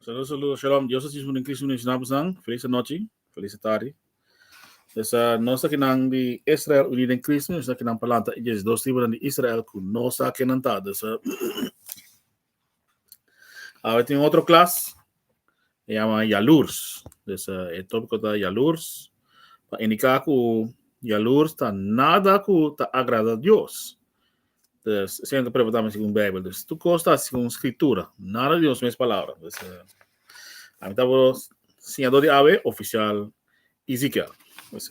Saludo, saludo, shalom. Dios así sunin Cristo nin sinabos nan. Feliz anochi, feliz tarde. Dus uh, nos ta kinan di Israel uni den Cristo, nos ta kinan palanta. Y dos tribunan di Israel ku nos ta kenan ta. Dus uh, Ahora tin otro klas, e yama yalurs. Dus e topiko ta yalurs. Pa indiká ku yalurs ta nada ku ta agrada Dios. Dus esei ta preguntá mi segun Beibel. Dus tur kos ta segun Skritura, nada di nos mes palabra. Dus ami ta wòrdu siñadó di awe ofisial Ezekiel. Dus.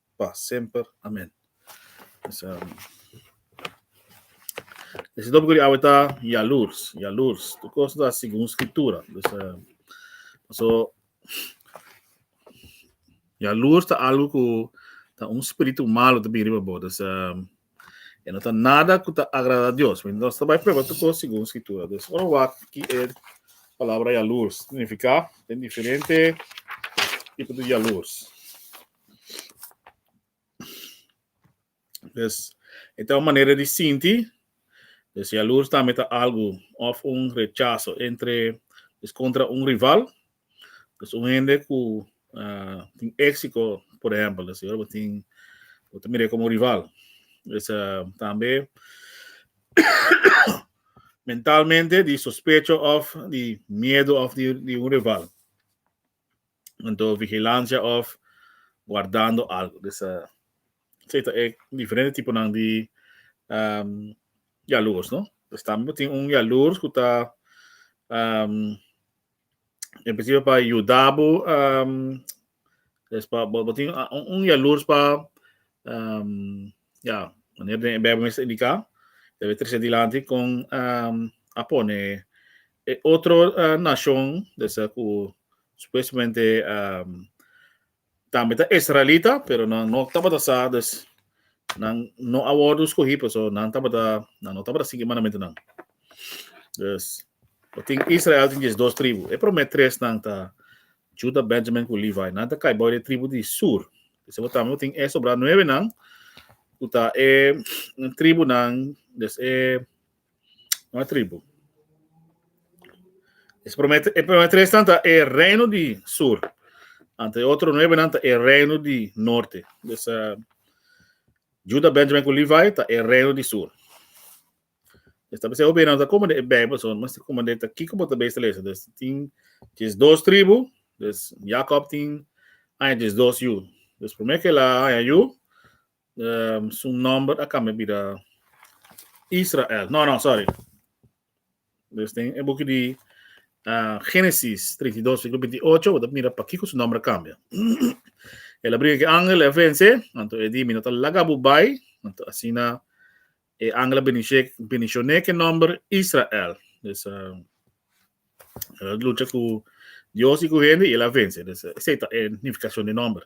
pa semper. Amen. E si topico di awe ta yalurs, yalurs. Tur cos ta segun scritura. Dus, so, yalurs ta algo cu ta un spiritu malo ta bin riba bo. Dus, e no ta nada cu ta agrada Dios. Mi nos ta bai prueba tur cos segun scritura. Dus, ora wak ki e palabra yalurs significa. Den diferente tipo di yalurs. Des e ta un manera di sinti, des yalurs tambe ta algu of un rechaso entre des contra un rival, des un hende cu ah, tin exico por ehempel, des ora bo tin bo ta mire como rival. Des ah, tambe mentalmente di sospecho of di miedo of di di un rival. anto vigilancia of guardando algo dus uh, sei ta e diferente tiponan di um, jaloers no dus tambe tin un jaloers ku ta um, en principio pa yudabo um, es pa bo tin un, un jaloers pa Um, ja, wanneer den Bijbel mester indica, debe trece dilanti con um, a pone e otro uh, nacion, desa cu supuestamente um, tambe ta israelita, pero nan no tabata sa, dus nan no a wordo escogi, pues so nan tabata, nan no tabata sigui mandamento nan. Dus, tin Israel tin jes dos tribu. E prome tres nan ta Juda, Benjamin ku Levi nan ta kai bou e tribu di sur. P'esei bo tambe bo tin e sobrá nuebe nan, ku ta e tribunan des e un a tribu. Es promé e promé tres nan ta e reino di sur, anto e otro nuebe nan ta e reino di norte. Des Juda, Benjamin ku Levi ta e reino di sur. Dia ta bisa obe nan ta komende e Bijbel, so mas ti komende ta kiko bo ta bes ta lesa. Dus tin djes dos tribu, dus Jakob tin aña djes dos yu. Dus promé ke la aña yu, um, su nomber a kambia bira Israel. No, no, sorry. Dus tin e buki di uh, Génesis 32, versículo 28, bo ta mira pa kiko su nomber a kambia. El a bringa ke angel, e vense, anto e di mi no ta laga bo bai, anto asina E angel a benishe, benishoné ke nòmber Israel. Dus uh, el a lucha ku Dios i ku hende i el a vense. Dus uh, esa ta e nifikashon di nòmber.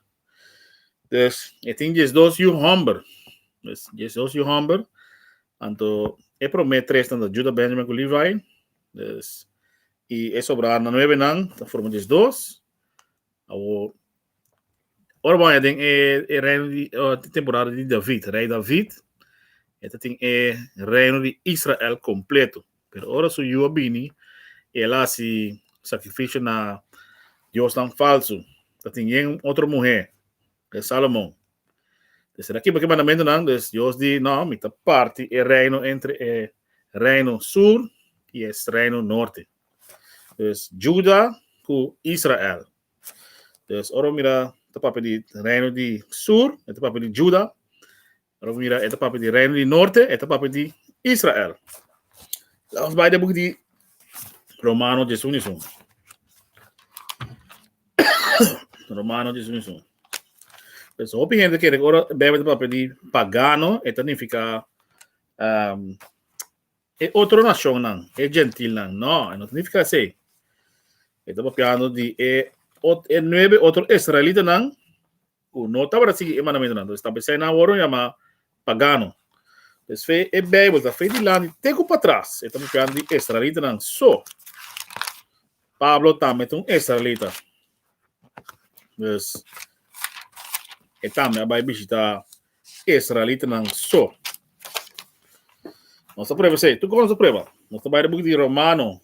Dus e tin jes dos yu hòmber. Dus jes dos yu hòmber. Anto e promé tres nan ta Juda, Benjamin ku Levi. Dus i e sobrana nuebe nan ta forma jes dos. Awo Ora bon, den e, e reino di uh, temporada di David, rei David, e tin e reino di Israel completo. Pero ora su yu bini, el hasi sacrificio na Dios tan falso. Dat tin yen otro mujer, de Salomon. Dus era kipa ke mandamento nan, dus Dios di, no, mi ta parti e reino entre e reino sur y e reino norte. Dus Juda ku Israel, Dus ora mira ta papia di reino di sur, e ta papia di Juda. Ora mira e ta papia di reino di norte, e ta papia di Israel. Laat ons bai den boek di Romano Jesu ni sun. Romano Jesu ni sun. Dus hopi hende kere ora bebe ta papia di pagano, e ta nifica um, E otro nacionnan, e gentilnan? No, e no ta nifica esey. E ta papiando di e ot, e nuebe otro israelitanan cu no tabata sigui e mandamentonan. Entonces, ta pasobra nan awor lo yama pagano. Entonces, fe e Bijbel ta fe dilanti te cu patras. E ta papiando di israelitanan so. Pablo tambe ta un israelita. Dus, e tambe a bai bishita israelitanan so. Nos a prueba sei. Tu kon nos a prueba? Nos ta bai de buki di Romano.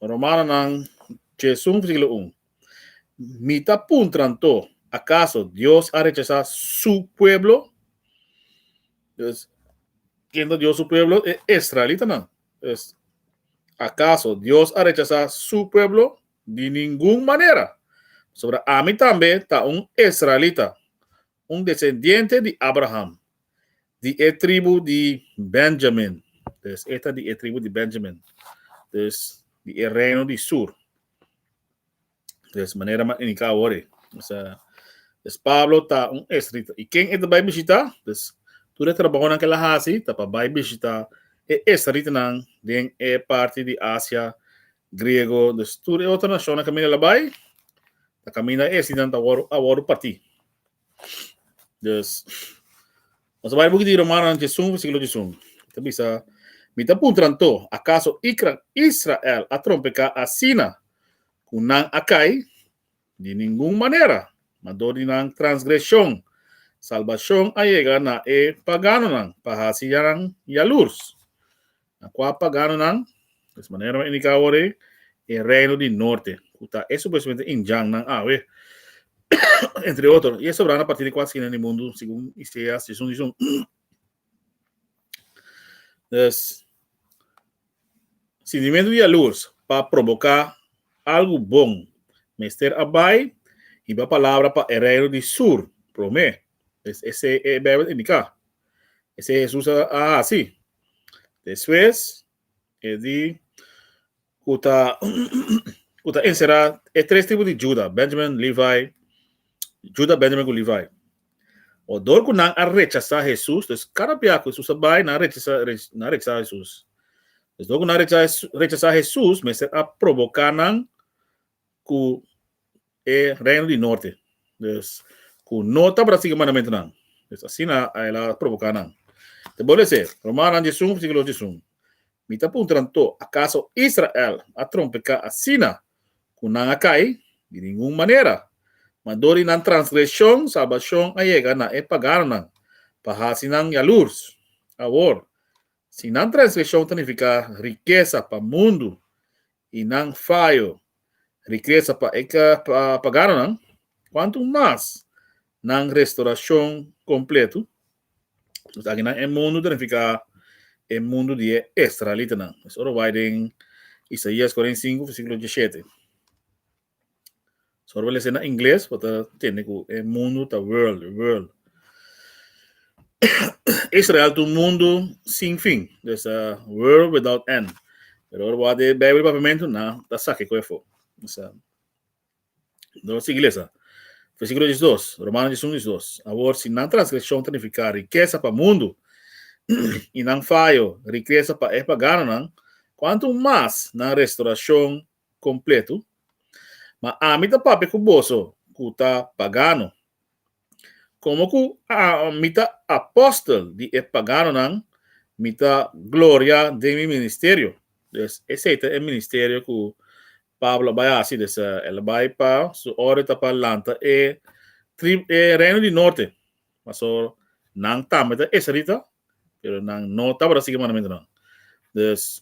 Romanonan, chesun versículo 1. Mi ta puntran to, acaso Dios a rechazá su pueblo? Dus, ken ta Dios su pueblo? E israelitanan. Dus, acaso Dios a rechazá su pueblo? Di ningun manera, pasobra ami tambe ta un israelita, un desendiente di Abraham, di e tribu di Benjamin. Dus e ta di e tribu di Benjamin, dus di e reino di sur. Dus manera m'a indicá awor ei. Dus, eh, dus Pablo ta un israelita. I ken e ta bai bishitá? Dus tur e trabahonan k'el a hasi ta pa bai bishitá e israelitanan den e parti di Asia Griego, dus tur e otro nacion a caminda la bay, ta caminda e sinan ta wor a wor parti. Dus, nos a bay buki di Romanan djesun versiculo djesun. Ta bisa, Mi ta puntranan to, acaso ikran Israel a trompeca asina cu nan a cay? Di ningun manera, ma dor di nan transgresion, salbacion a yega na e paganonan pa hacinan yalurs. Na kua paganonan, des manera no indiká awor ei, e reino di norte, ku ta e supuestamente injannan awe, entre otro, i e sobranan partí di kua skina di mundu, segun Iseas disun disun. Des, sintimentu di yalurs pa proboká algu bon mester a bai hiba palabra pa e reino di sur promé. Des esei e Beibel a indiká. Esei Hesus a hasi. Despues e di ku ta ku ta enserá e tres tribu di Juda, Benjamin, Levi, Juda, Benjamin ku Levi. Odor ku nan a rechasá Hesus, dus kada bia ku Hesus a bai, nan a rechasá nan a rechasá Hesus. Dus dor ku nan a rechasá Hesus mester a proboká nan ku e Reino di Norte, dus ku no tabata sigui e mandamentunan, dus asina el a provoká nan. Te bole esei, Romannan disun, versíkulo disun, Mi ta puntra nan to, Akaso Israel a trompeká asina ku nan a kai? Di ningun manera! Mandó di nan transgreshon salbashon a yega na e paganonan, pa hasi nan yalurs. Awor, si nan transgreshon ta nifiká rikesa pa mundu, y nan fayo riqueza pa e ka pa gana nan, cuantu mas nan restoracion completo. Nos aki nan e mundo ta nifica e mundo di e Israelitanan. Mes ora bay den Isaías cuarenta y cinco, versículo dieschete. So we lese na ingles pa ta tende ku e mundu ta world, world. Israel tu mundu sin fin, dus a world without end. Pero ora wak de Bijbel papiamento na ta saki ku efo. Dus a no sigui lesa. Versículo 12, Romano 11, 12. Awor si nan transgreshon ta nifiká rikesa pa mundu i nan fayo rikesa pa e paganonan, kuantu mas nan restorashon completo, ma ami ta papia cu boso cu ta pagano. Como cu mi ta apostel di e paganonan, mi ta gloria den mi ministerio. Dus esey ta e ministerio cu Pablo a bay haci, dus el a bay pa su orde ta pa lanta e reino di norte, pasobra nan tambe ta israelita, pero nan no tabata sigui e mandamentunan. Dus,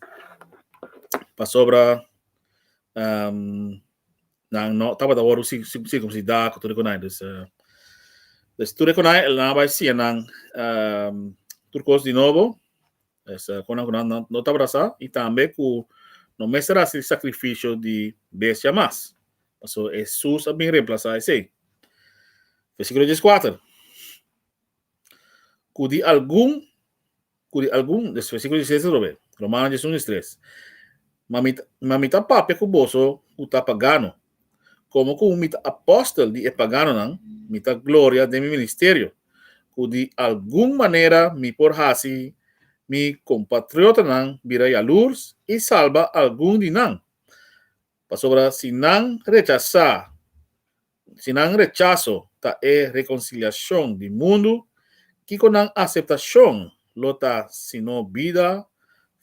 pasobra um, nan no tabata word circumsida, ku tur konai. Dus, uh, dus tur konai, el nan bai sia nan um, tur kos di nobo, dus, uh, konan kunan no, no tabata sa, i tambe ku no mester hasi sacrificio di bestia mas. Paso Jesus a bin reemplasa esei. Versículo 14. ku di algun, ku di algun, des versíkulo diesiseis ta rob'e, Romanos dies un, dies tres, ma mi ta, ma mi ta papia ku boso ku ta pagano, komo ku mi ta apòstel di e paganonan, mi ta gloria den mi ministerio, ku di algun manera mi por hasi mi kompatriotanan bira yalurs i salba algun di nan, pasobra si nan rechasá. Si nan rechaso ta e rekonsiliashon di mundu, kiko nan aseptashon lo ta sino bida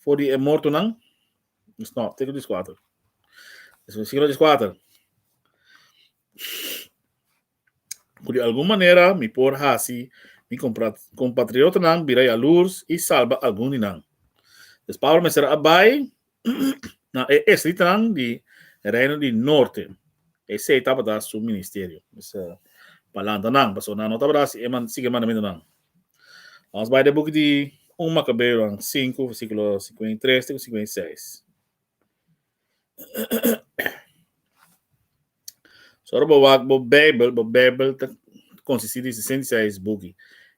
for di e mortonan? Versíkulo dies kuater Versíkulo dies kuater Ku di algun manera mi por hasi mi kompatriotanan bira yaluurs i salba algun di nan. Pablo mester a bai na e estritan di Reino di Norte. Esei tabata su ministerio. Mester pa lanta nan, pasobra nan no tabata hasi e man, sigui e mandamentunan. Nos bai den e buki di Un Makabeonan sinku, versíkulo sikuenta i tres te ku sikuenta i seis. So ora bo wak bo Beibel, bo Beibel ta konsistí di sesenta i seis buki.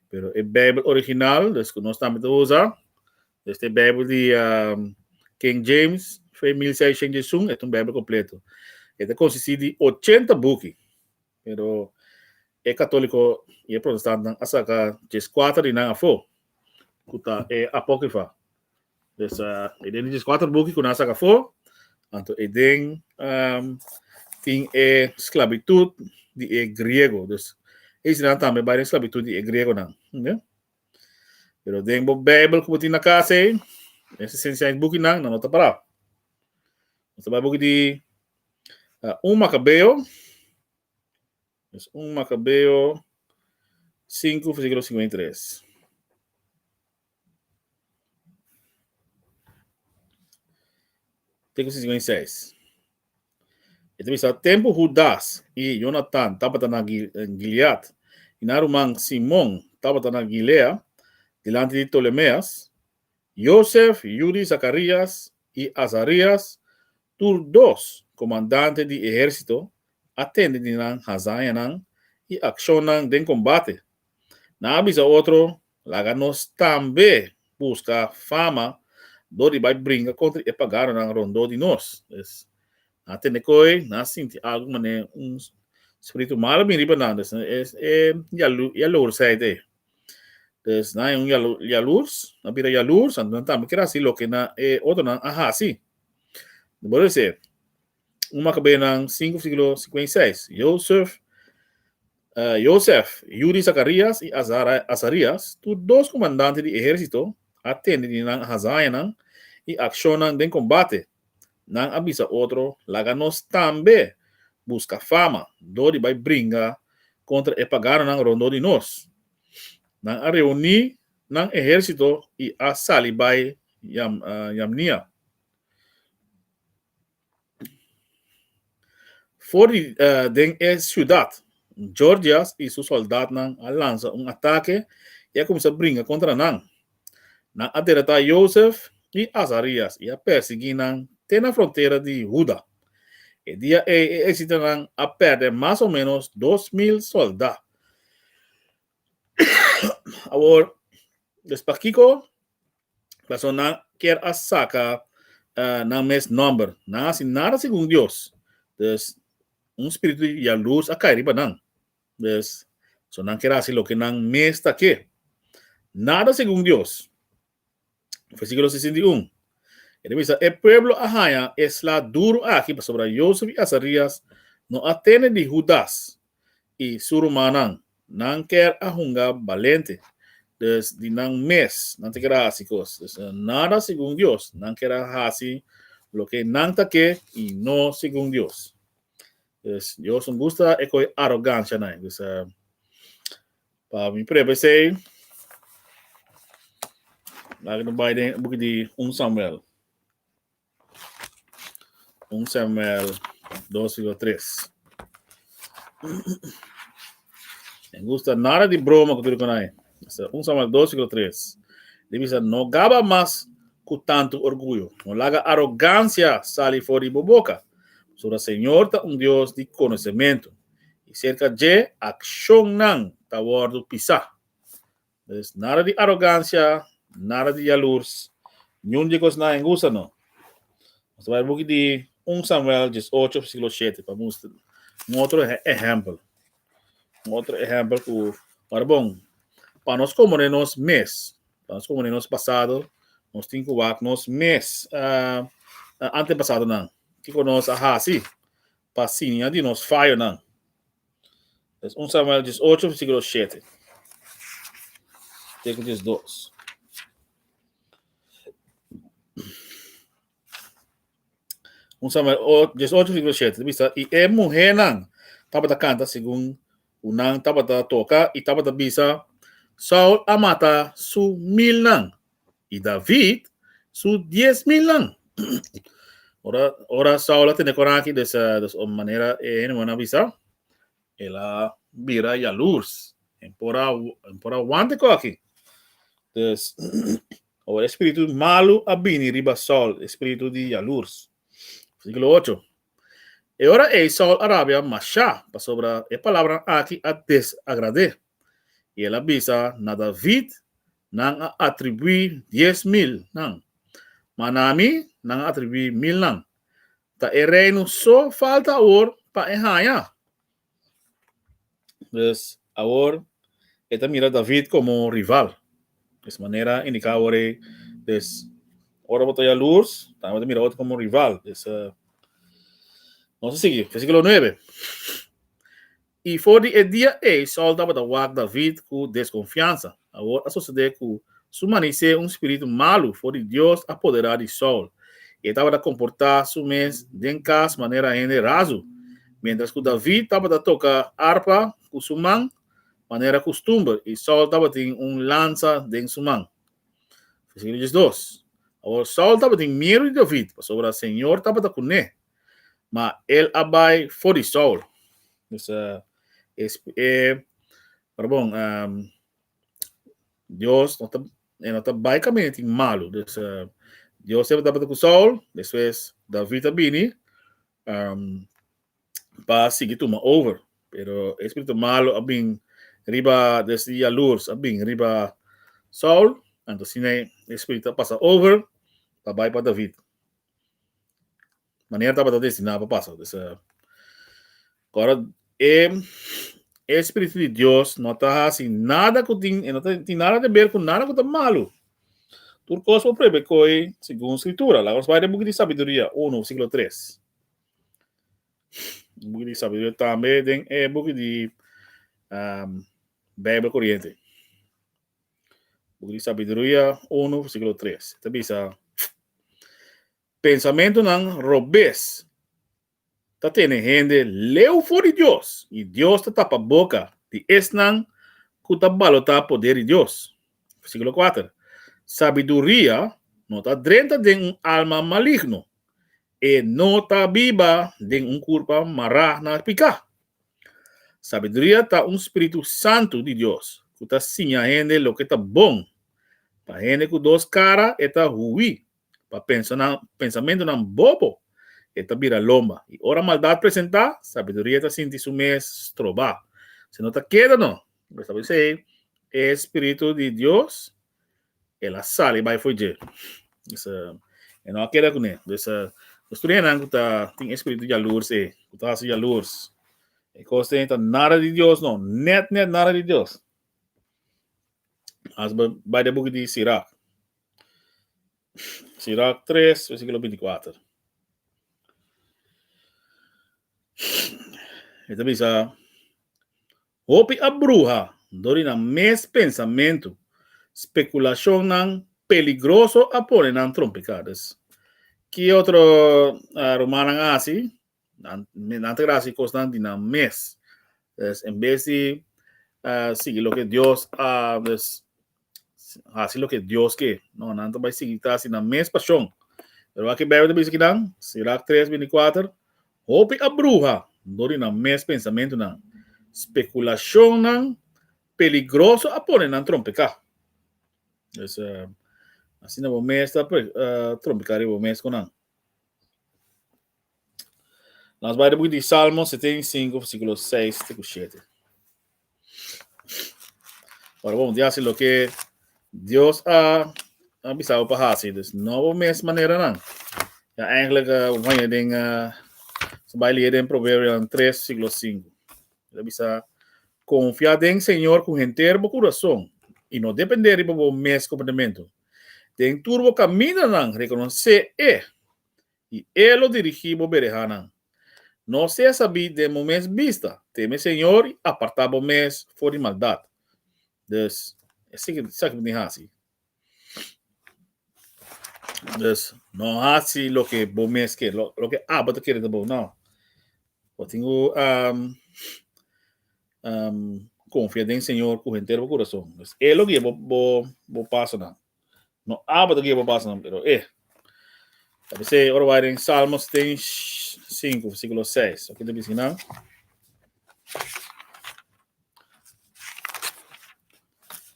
Pero e Beibel original, des ku nos tambe ta usa, Este e Bijbel di King James fei mil seishent di esun, et un Bijbel completo. E ta consisti di ochenta buki. Pero e catolico y e protestantenan a saca djes cuater di nan afo, cu ta e Apocrypha. Dus e den e djes cuater buki cu nan a saca afo, anto e den tin e sclabitud di e Griego. Dus e ysi nan tambe bay den sclabitud di e Griegonan. Pero den bo Bijbel cu bo tin na casa ei, den se Science bukinan, nan no ta para. Nos ta bai buki di uh, un Macabeo, es un Macabeo 5, versículo 53. Texto 56. E ta bisa, Tempu Hudas i Yonatan tabata na Gilead, i nan ruman Simon tabata na Gilea, dilanti di Tolemeas, Yosef, Yudi, Zakarias i Azarias, tur dos komandante di ehérsito, a tende di nan hazañanan i akshonnan den kombate. Nan a bisa otro Laga nos tambe buska fama dor di bai bringa kontra e paganonan rondó di nos. Pues, nan a tende koe, nan a sinti algu manera un spiritu malu a bini riba nan. Pues, es e yalursijd ei. Pues, nan un yalurs, nan a bira yalurs, anto nan tambe kier hasi loke e otronan a hasi. Nan por a bis'é. 1 Makabenan 5 versíkulo 56. Jozef, uh, Jozef, yu di Zakarias i Azarias, tu dos komandante di ehérsito, a tende di nan hazañanan i akshonnan den kombate. Nan a bisa otro, laga nos tambe buska fama dor di bai bringa kontra e paganonan rondó di nos. Nan a reuní nan ehérsito i a sali bai Yam, uh, Yamnia. For di den e siudat, Gorgias i su sòldatnan a lansa un atake i a kuminsá bringa kontra nan. Nan a deratá Yosef i Azarias i a pèrsiguí nan te na frontera di Huda. E dia ei e ersitonan a pèrdè mas o ménos dos mil sòldá. Awor, dus pakiko personanan kier a saka uh nan mes nòmber? Nan a hasi nada segun Dios. Dus, un spiritu di yalus a kai riba nan. Dus, so nan kier a hasi loke nan mes ta ke. Nada segun Dios. Versíkulo 61 E ta bisa, E pueblo a haña e sla duru aki pasobra Yosef i Azarías no a tene di Hudas i su rumannan. Nan kèr a hunga balente, dus di nan mes nan ta keda hasi kos. Dus, nada segun Dios, nan keda hasi loke nan ta ke i no segun Dios. Dus, Dios no gusta e koe arogansianan. Dus, Pa mi prueba esei, laga no bai den boek di 1 Samuel. 1 Samuel 2 siglo 3. En gusta nada di broma ku tudu konai. 1 Samuel 2 siglo 3. Di bisa no gaba mas ku tantu orguyo. No laga arogansia sali for di bo boka. Pasobra Señor ta un Dios di konosementu. i serka dje akshonnan ta wòrdu pisá. Pues, nada di arogansia, nada di yalurs, niun di e kosnan en usa no. Nos ta bai buki di un Samuel dies ocho versíkulo shete pa mustra un otro ehèmpel, un otro ehèmpel ku ora bon pa nos komoné nos mes, pa nos komoné nos pasado, nos tin ku wak nos mes antepasadonan, kiko nos a hasi pa siña di nos fayonan. Es un Samuel dies ocho versikulo shete te ku dies dos. Un Samuel dies ocho versikulo shete ta bisa i e muhénan tabata kanta segun Unan tabata toka i tabata bisa, Saul a mata su milnan i David su dies milnan. Ora, ora Saul a tene coran aki des, eh, des o manera e hende a bisa, el a bira yalurs. En por a, en por a wante cu aki. Des, ora e spiritu malu a bini riba Saul, e spiritu di yalurs. Versiculo ocho. E ora ei Saul a rabia mashá, pasobra e palabranan aki a desagrad'é, i el a bisa na David, Nan a atribuí dies mil nan, ma na mi nan a atribuí milnan. Ta e reino so falta awor pa e haña? Pues awor e ta mira David komo rival. Pues manera indiká awor ei, pues ora bo ta yaluurs, tambe bo ta mira otro komo rival. Pues uh, nos a sigui, versíkulo nuebe. I for di e dia ei Sòl tabata wak David ku deskonfiansa. Awor a sosodé ku su mani se un spiritu malu for di Dios a poderá di Saul, i e tabata komportá su mes den kas manera hende razu, miéntras ku David tabata toka arpa ku su man manera kustumber i Saul tabatin un lansa den su man. Versíkulo diesdos, Awor Saul tabatin miedu di David, pasobra Señor tabata kuné, ma el a bai for di Saul. Pues, e Pero bon, um, Dios no ta, eh, no ta bai camino tin malo. Dus uh, Dios siempre tabata ku Saul, después David a bini um, pa sigi tuma over. Pero espíritu malo a bin riba des di jaloers, a bin riba Saul, anto sine espíritu a pasa over pa bai pa David. manera tabata destiná pa pasa. Pues, uh, kora, e, e Spiritu di Dios no ta hasi nada ku tin, e no ta tin nada te ber ku nada ku ta malu. Tur kos por prohibé koi segun Skritura. Laga nos bai den Buki di Sabiduria 1, versíkulo 3. Buki di Sabiduria tambe den e buki di um, Bijbel Corriente. Buki di Sabiduria 1, versíkulo 3. Ta bisa, Pensamentunan robes ta tene hende leu for di Dios, i Dios ta tapa boka di esnan ku ta balotá poder di Dios. Versíkulo kuater, Sabiduria no ta drenta den un alma maligno, e no ta biba den un kurpa mará na piká. Sabiduria ta un spiritu santu di Dios ku ta siña hende loke ta bon. Pa hende ku dos kara e ta huí pa pensanan pensamentunan bobo e ta bira lomba, i ora maldat presentá, sabiduria ta sinti su mes strobá. Si no ta keda no, bo sabi esei, e Spiritu di Dios el a sali bai for dje. Dus e no a keda kuné. Dus nos studianan ku ta tin e spiritu jalurs ei, ku ta hasi jalurs. E kos ei ta nada di Dios no, nèt nèt nada di Dios. As bo bai den buki di Sirach. Sirach tres, versíkulo binti kuater. E ta bisa, Hopi a bruha dor di nan mes pensamentu, spekulashonnan peligroso a pone nan trompiká. Des, ki otro rumannan a hasi? Nan nan ta grada si cosnan di nan mes. Des en vez di ah, sigui loke Dios a des hasi loke Dios ke. No, nan ta bai sigui ta hasi nan mes pasion. Pero aki Bijbel ta bisa ki nan, Sirach 3, 24, hopi a bruha dor di nan mes pensamentunan. Speculacionnan peligroso a pone nan trompeca. Des eh, asina bo mes ta pre- eh, trompeca riba bo mes con nan. Nos bai de boek di Salmo 75, versículo 6 te ku 7. Ora bo di hasi lo ke Dios a a bisao pa hasi, dus no bo mes manera nan. Ja eigenlijk uh, bo bai den uh, so bai leer den Proverbio 3, versículo 5. Ele bisa confia den Señor con henter bo corazón y no depender riba bo mes comportamento. Den tur bo kamindanan rekonosé E, i E lo dirigí bo berehanan. No sea sabí den bo mes bista, teme Señor i apartá bo mes for di maldat. Dus, esaki bo tin di hasi. Dus, no hasi loke bo mes ke, loke abo ta kere di bo, no. Bo tin ku um, confia den Señor cu entero bo corazón. Es él lo que bo, bo, bo paso na. No abo que bo paso na, pero eh. A veces, ora vai en Salmos 5, versículo 6. Aquí te dice, ¿no?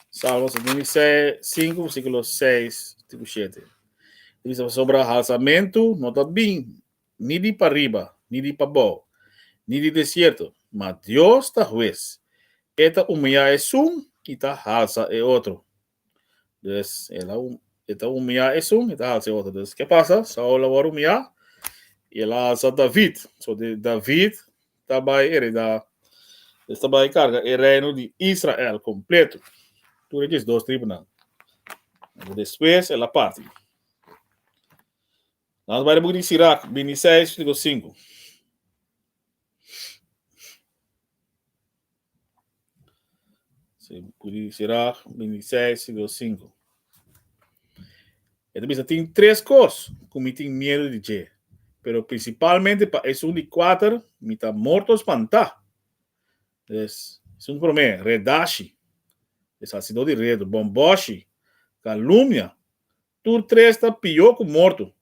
Salmos 76, 5, versículo 6, tipo 7. Dice, sobre alzamento, no está bien. ni di pariba, ni di pabou, ni di desierto, ma Dios ta hues, e ta umiá esun i ta halsa e otro. Dus, el a e ta umiá esun, e ta halsa e otro. Dus, ke pasa? Saul a wòrdu umiá i el a halsa David. So, David ta bai eredá, es ta bai karga e reino di Israel kompletu, tur e diesdos tribunan. Despues el a parti. Nos bai den book di Sirach, bini seis, versículo sinku. Book di Sirach, bini seis, versículo sinku. E ta bisa, tin tres kos ku mi tin miedu di dje, pero prinsipalmente pa esun di kuater mi ta morto spantá. Des, esun promé, redashi, e salsidó di redu, bòmbòshi, kalumnia, Tur tres ta pió ku morto.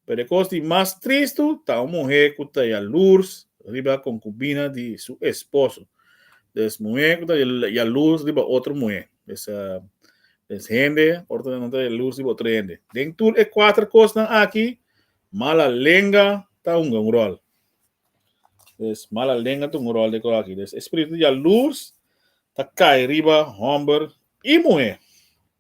Pero e kos di mas tristu ta un muhé ku ta yaluurs riba konkubina di su esposo. Des muhé ku ta yaluurs riba otro muhé. Des des hende ora ta nan ta yaluurs riba otro hende. Den tur e kuater kosnan aki, mala lenga ta hunga un ròl. Des mala lenga ta hunga un ròl den e kos aki. Des e spiritu di yaluurs ta kai riba hòmber i muhé.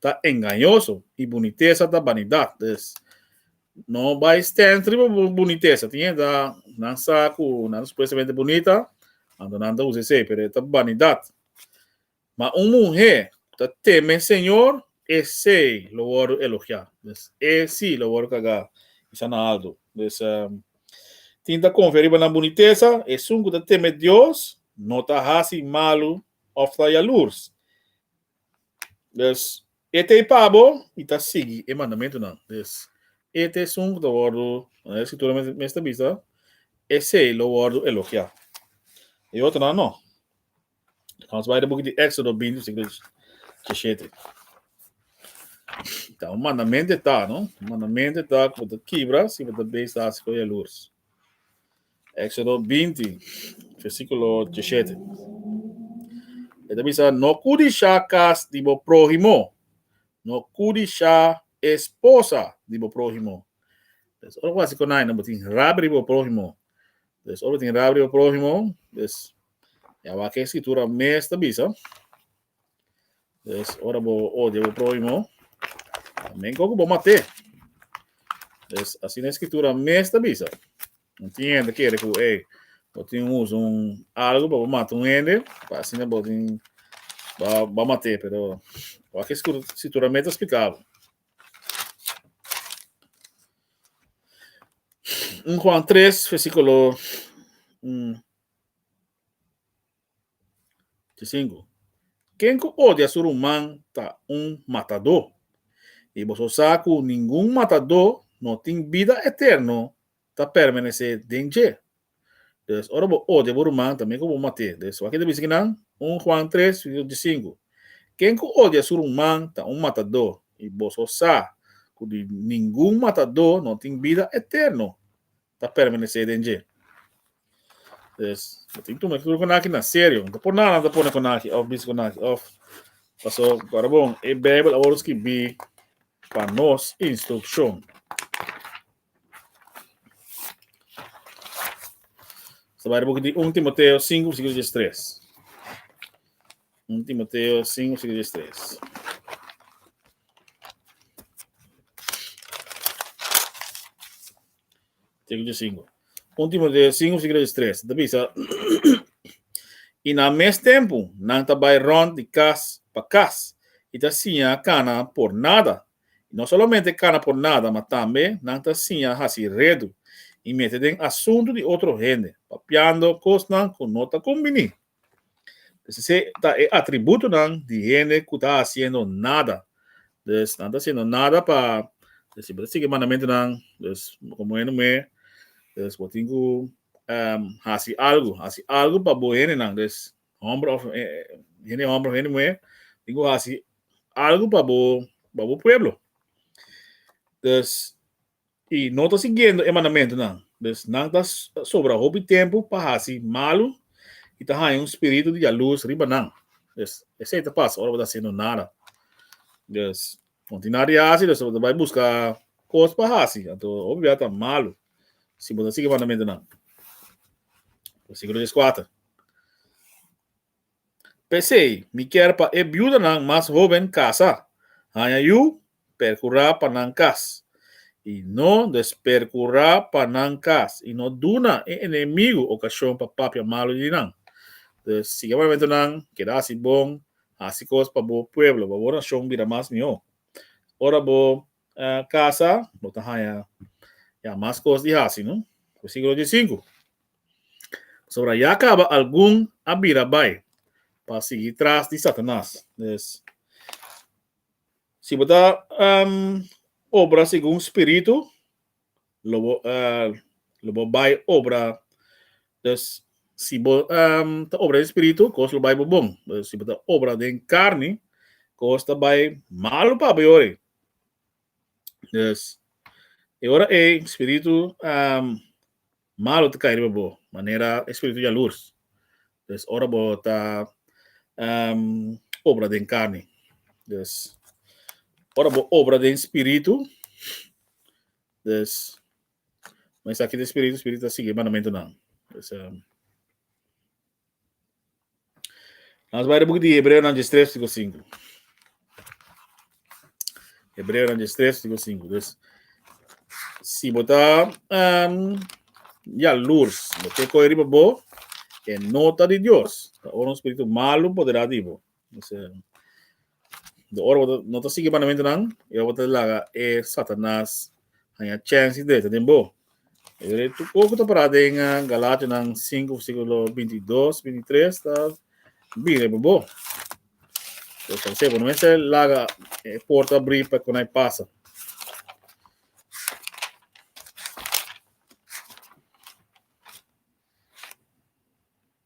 ta engañoso, i bunitesa ta banidat. Dus, no bai stens riba bo bunitesa. Tin hende nan sa ku nan supuestamente bunita, anto nan ta usa esei, pero e ta banidat. Ma un muhé ku ta teme e señor, esei lo wòrdu elogiá. Dus, e si lo wòrdu kagá i sa na altu. Dus, tin ta konfia riba nan bunitesa, esun ku ta teme Dios no ta hasi malu òf ta yalurs. Des, ete i pa bo, i ta sigui e mandamentunan. Des, ete esun ku ta wòrdu, manera e Skritura mes mes ta bisa, esei lo wòrdu elogiá. E otronan no. Nos bai den buki di Éxodo binti, versíkulo dishete. Ta un mandamento e ta, no? Un mandamento e ta ku bo ta kibra si bo ta bes hasi ko yalurs. Éxodo binti, versíkulo djishete. E ta bisa, No kudishá kas di bo próhimo, no kudishá e sposa di bo próhimo. Des, ora bo hasi konai, no bo tin rabia riba bo próhimo. Des, ora bo tin rabia riba bo próhimo, des, ya awor akí e Skritura mes ta bisa, Des ora bo odia bo próhimo, también con cu bo mat'é. Des asina e Escritura mes ta bisa. Un tin hende kere cu, ey, bo tin un uso un algo pa bo mata un hende, pa asina bo tin ba ba mat'é, pero wak e Escru- Escritura mes ta splica bo. Un Juan tres, versículo un. Di sinku, Ken ku odia su ruman ta un matadó. I boso sa ku ningun matadó no tin bida eterno ta permanesé den dje. Pues, ora bo odia bo ruman, ta mi ku bo mat'é. Pues, wak e ta bisa ki nan? Un Juan tres, verso di sinku, Ken ku odia su ruman ta un matadó. I boso sa ku ningun matadó no tin bida eterno. ta permanesé den dje. Pues, bo tin tuma tur ku naki na serio. No ta por nada nan ta pone ku naki òf bisa ku naki òf. Paso, kòrda bon, e Beibel a wòrdu skirbí pa nos instrukshon. Esta bai di buki di un Timoteo sinku versíkulo dies tres. Un Timoteo sinku versíkulo dies tres. Siglo di sinku. Un Timoteo sinku, siglo di tres. Ta bisa, i na mes tempu nan ta bai rònt di kas pa kas i ta siña kana por nada. I no solamente kana por nada, ma tambe nan ta siña hasi redu i mete den asuntu di otro hende, papiando kosnan ku no ta kumbiní. Pues esei ta e atributonan di hende ku ta hasiendo nada. Pues nan ta hasiendo nada pa pues si bo ta sigui e mandamentunan pues komo hende muhé pues bo tin ku hasi algu, hasi algu pa bo hendenan pues hòmber òf hende hòmber òf hende muhé tin ku hasi algu pa bo pa bo pueblo. Pues I no ta siguiendo e mandamentunan, dus nan ta sobra hopi tempu pa hasi malu i ta haña un spiritu di yalus riba nan. Dus, esei ta pasa ora bo ta hasiendo nada. Dus, kontinua di hasi, dus bo ta bai buska kos pa hasi, anto hopi bia ta malu si bo ta sigui e mandamentunan. Versikulo dies kuater. P'esei, mi kier pa e biudanan mas hóben kasa, haña yu, perkurá pa nan kas, i no desperkurá pa nan kas, i no duna e enemigu okashon pa papia malu di nan. Pues, sigui e mandamentunan, keda hasi bon, hasi kos pa bo pueblo, pa bo nashon bira mas mihó. Ora bo kasa, bo ta haña ya mas kos di hasi, no? Versíkulo dies i sinku. Pasobra ya kaba algun a bira bai pa sigui tras di Satanas. Des, si bo ta um, obra segun spiritu, lo bo, uh, lo bo bai obra. Des, si bo um, ta obra den spiritu, kos lo bai bo bon. Des, si bo ta obra den karni, kos ta bai malu pa bo yori. Des, e ora ei, spiritu um, Malo ta cay riba bo, manera e spiritu jaloers. Dus ora bo ta obra den carne. Dus ora bo obra den spiritu, dus men sa kita e spiritu, spiritu ta sigui e mandamentunan. Dus. Nós vai book de Hebreu na 3 fico 5. Hebreu na 3 fico 5. Dus si bota um, ya lurs, bote coi riba bo, e nota di Dios. Ora un spiritu malu poderá di bo. Entonces, de ora bota no ta sigui mandamento nan, e ora bota laga e Satanas hanya chance de ta den bo. E tu poco ta para den uh, Galatio nan 5 versículo 22, 23 ta bire bo bo. Entonces, al sebo, no me se laga e porta abrir pa con ay pasa.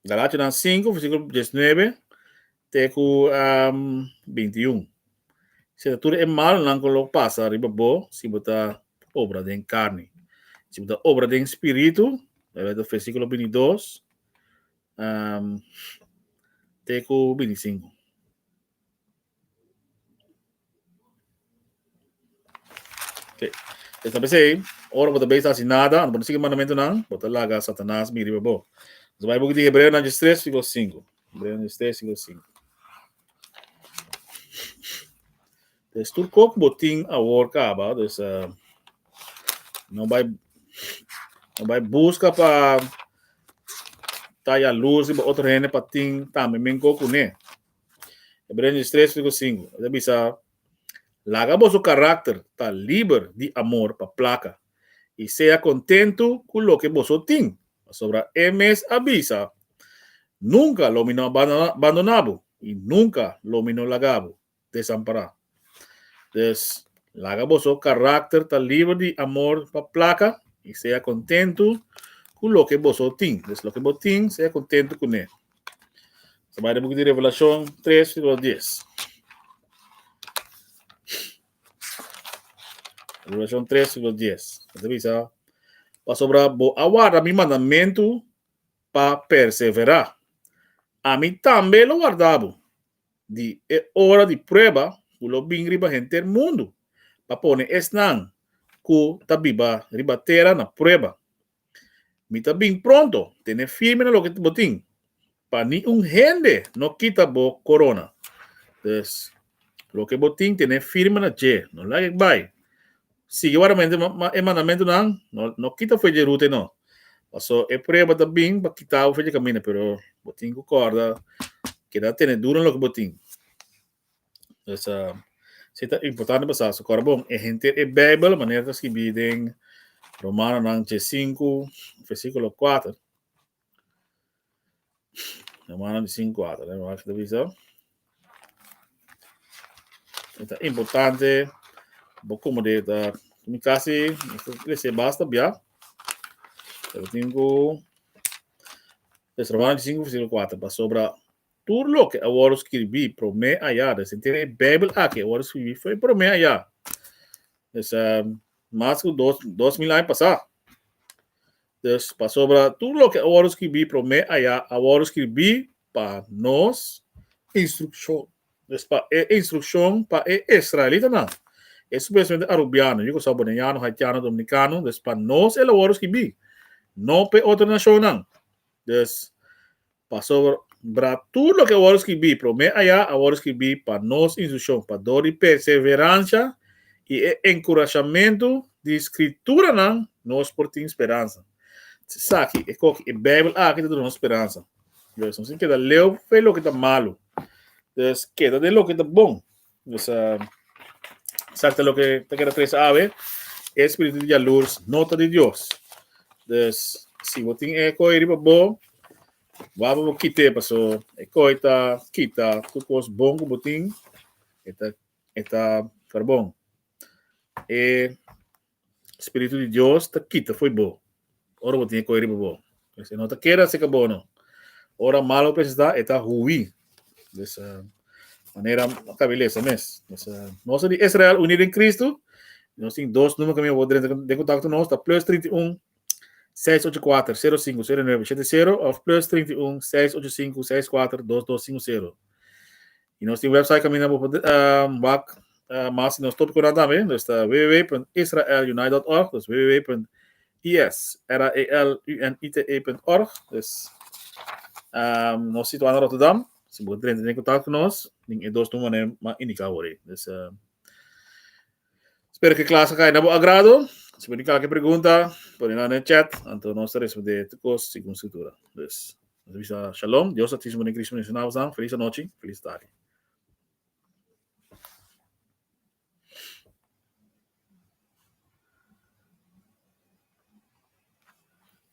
Galatianan sinku, versíkulo diesnuebe te ku bintiun. Si ta tur e malnan ku lo pasa riba bo, si bo ta obra den karni. Si bo ta obra den spiritu, ta versíkulo bintidos te ku bintisinku. Esta besey, ora bo ta bezig hasi nada, ora bo no sigui e mandamentunan, bo ta laga Satanas bin riba bo. Nos bai buki di Hebreonan dje stres siklo sinku. Hebreonan dje stres siklo sinku. Des tur kos ku bo tin awor kaba, dus ah, no bai no bai buska pa ta yalus riba otro hende pa tin tambe men kos kuné. Hebreenos 3 versículo 5. Esa bisa, laga boso carácter ta liber di amor pa placa y sea contento cu loke boso tin, pasobra e mes a bisa, Nunca lo mi no a bandonabo y nunca lo mi no lagabo desampará. Dus, laga boso karakter ta liber di amor pa plaka i sea kontentu ku loke boso tin. Dus, loke bo tin, sea kontentu kuné. Sa bai den buki di Revelashon tres versíkulo dies. Revelashon tres versíkulo dies. E ta bisa, Pasobra bo a warda mi mandamentu pa perseverá, ami tambe lo warda bo. di e ora di prueba ku lo bin riba henter mundu, pa pone esnan ku ta biba riba tera na prueba. Mi ta bin pronto, tene firme na loke bo tin, pa ni un hende no kita bo korona. Dus, loke bo tin, tene firme na dje, no laga e bai, Sigui waramente e mandamentunan, no kita fe dje rute no, pasobra e prueba ta bin pa kita bo fe dje kaminda, pero bo tin ku kòrda keda tene duru na loke bo tin. Pues si ta importante pa sa, so kòrda bon e henter e Beibel manera ta skibi den Romanonan chesinku, versikulo kuater. Hermano di sin kuater, eh, wacht a bisa. E ta importante bo como de ta mi casi lese basta bia. Pero tin ku Deuteronomio 5 versículo 4 pa sobra Tur loke a wòrdu skirbí promé ayá, ta sentido e Beibel akí a wòrdu skirbí fo'i promé ayá, mester mas ku dos dos mil aña pasá. Dus pasobra tur loke a wòrdu skirbí promé ayá a wòrdu skirbí pa nos instrukshon. Es pa e instrukshon pa e israelitanan, esun mesmete arubiano, yugo salboneyano, haitiano, dominikano, dus pa nos el a wòrdu skirbí, no p'e otro nashonnan. Dus, Pasobra bra tur loke a wòrdu skirbí promé ayá a wòrdu skirbí pa nos instrushon, pa dor di perseveransha i e enkurashamentu di Skrituranan nos por tin speransa. Esaki, esaki, e Beibel aki ta duna nos speransa. Nos tin keda leu fei loke ta malu. Nos keda den loke ta bon. Nos a sakta loke ta keda tres awe, e spiritu di yalurs no ta di Dios. Dus si bo tin e koi riba bo, wak pa bo kit'e, paso e koi ta kita tur kos bon ku bo tin, e ta e ta for bon. E Spiritu di Dios ta kita fo'i bo ora bo tin e koi riba bo. Pues e no ta keda cerca bo no. Ora mal bo presenta e ta hui. Pues uh, manera acabe lesa mes. Pues uh, nos di Israel uni den Cristo, nos tin dos numero que mi abo drenta den contacto nos, ta plus 31 684-050970 of plus 31 685 64 2250. Y nos tin website camina bo uh, bak uh, mas nos topic na también. Dus ta www.israelunite.org. Dus www.israelunite.org. Dus um, nos situado in Rotterdam. Si bo drente in contact con nos, din e dos nummer ma indica ori. Dus uh, Spero cu e clase a cay na bo agrado. Si bo tin cualquier pregunta, pone na e chat, anto nos ta respondé tur cos segun scritura. Dus, nos bisa shalom, Dios Altísimo den Cristo bendiciona bosan, feliz anochi, feliz tardi.